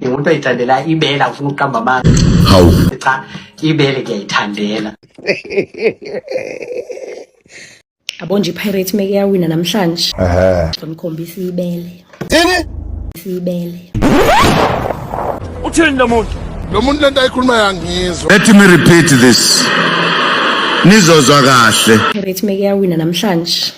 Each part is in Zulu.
Umuntu oyithandela ibela ufuna ukuqamba amanga. Hawu. Cha, ibele ngiyayithandela. Abonje iPirates meke yawina namhlanje. Ehhe. Ngomkhombisa ibele. Thini? Ibele. Uthini lo muntu? Lo muntu lento ayikhuluma yangizwa. Let me repeat this. Nizozwa kahle. Pirates meke yawina namhlanje.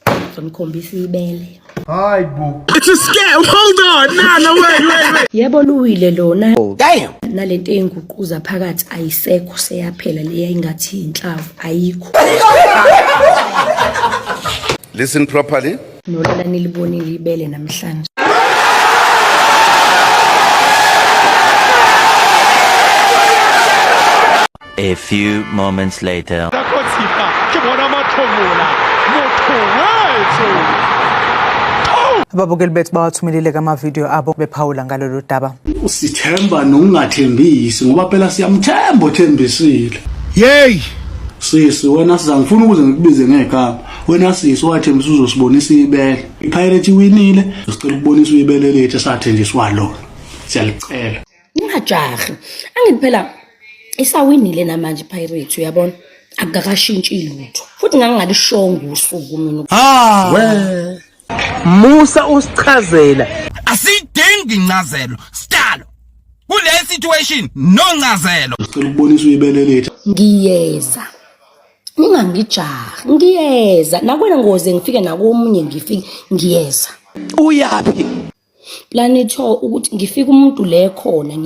Ngizomkhombisa ibele. Hayi bo. It's a scam. Hold on. Nah, no way, wait, wait. Yebo luwile lona. Oh, damn. Nalento enguquza phakathi ayisekho seyaphela leya ingathi inhlavu ayikho. Listen properly. Nolala nilibonile ibele namhlanje. A few moments later. Nakhotsipa ke bona mathomula. Motho wethu. Ababukeli bethu bawathumelile kamavidiyo abo bephawula ngalolu daba. Usithemba nokungathembisi ngoba phela siyamthemba othembisile. Yey! Sisi wena siza ngifuna ukuze ngikubize ngegama. Wena sisi wathembisa uzosibonisa ibele. IPirate iwinile, sicela ukubonisa ibele lethu esathenjiswa lona. Siyalicela. ningajahi angithi phela isawinile namanje pirate uyabona akakashintshi lutho futhi ngangingalishongo usuku mina ah we musa usichazela asidingi incazelo stalo kule situation no ncazelo ngicela ukubonisa uyibele lethu ngiyeza ningangijahi ngiyeza nakwena ngoze ngifike nakomunye ngifike ngiyeza uyaphi planetho ukuthi ngifike umuntu le khona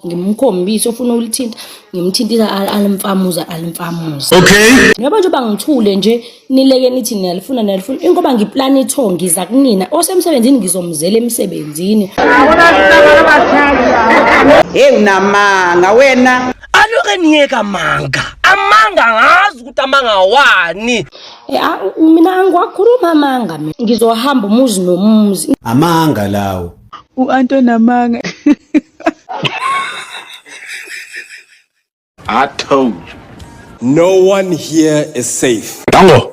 ngimkhombise ofuna ulithinta ngimthintisa alimfamuza alimfamuza okay ngoba nje bangithule nje nileke nithi niyalifuna niyalifuna ingoba ngiplanetho ngiza kunina osemsebenzini ngizomzela emsebenzini hey unamanga wena aloke niyeka manga amanga ngazi ukuthi amanga wani Eh, ah, mina angiwakhulumi amanga mina ngizohamba umuzi nomuzi amanga lawo u-anto namanga I told you. No one here is safe. Dango.